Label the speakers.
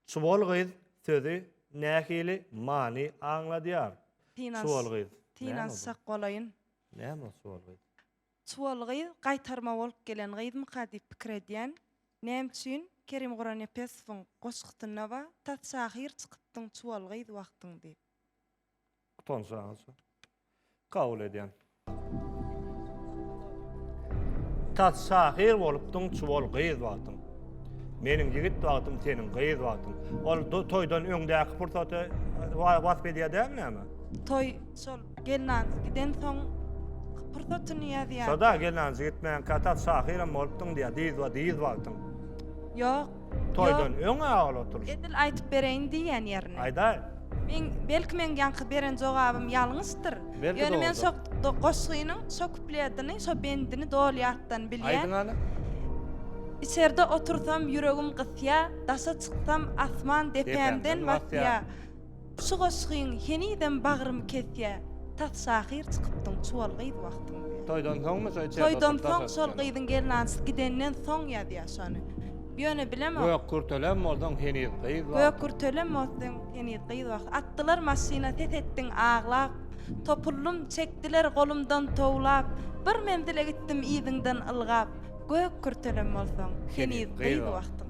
Speaker 1: Çuwal gyz sözi nähili many aňladýar? Çuwal gyz. Tynanç sak bolaýyn. Näme ol çuwal gyz? Çuwal gyz gaýtarma bolup gelen gyzmyka diýip pikir edýän. Näme üçin Kerim Gurannepesowyň goşgusynda bar, Tas şahyr çykypdyň çuwal gyz wagtyň diýip. Utansaňyz. Kabul edýän. Tas şahyr bolupdyň, çuwal gyz wagtyň. Meniň ýigit wagtym, seniň gyz wagtyň. Ol toýdan öňdäki pursaty wasp edýär dälmi näme? Toý şol gelnanjy giden soň pursatyny ýazýar. Şoda gelnanjy gitmän katat şahyram bolupdyň diýýär, dyz we dyz wagtyň. Ýok, Toýdan öň awal oturyş. Edil aýtyp bereýin diýýän ýerini. Aýdaý. Meň, belki meň ýaňky beren jogabym ýalňyşdyr. Belki dogrudyr. Ýöne men şo goşgynyň şo kupledini, şo bendini doly ýatdan bilýän. Aýdyň hany. Içerde otursam ýüregim gysýa, daşa çyksam asman depämden basýa. Şu goşgyň henizem bagrymy kesýä tas şahyr çykypdyň çuwal gyz wagtyň diýä. Toýdan soňmy şo içeride oturyp Toýdan soň şol gyzyň gelnansy gidenden soň ýazýa şony. Ýöne bilemok. Gök kürtelem bolsaň heniz gyz wagtyň. Gök kürtelem bolsaň heniz gyz wagtyň. Atdylar maşyna ses etdiň aglap. Topuldym çekdiler golumdan towlap. Bir menzile gitdim yzyňdan ylgap. Gök kürtelem bolsaň heniz gyz wagtyň.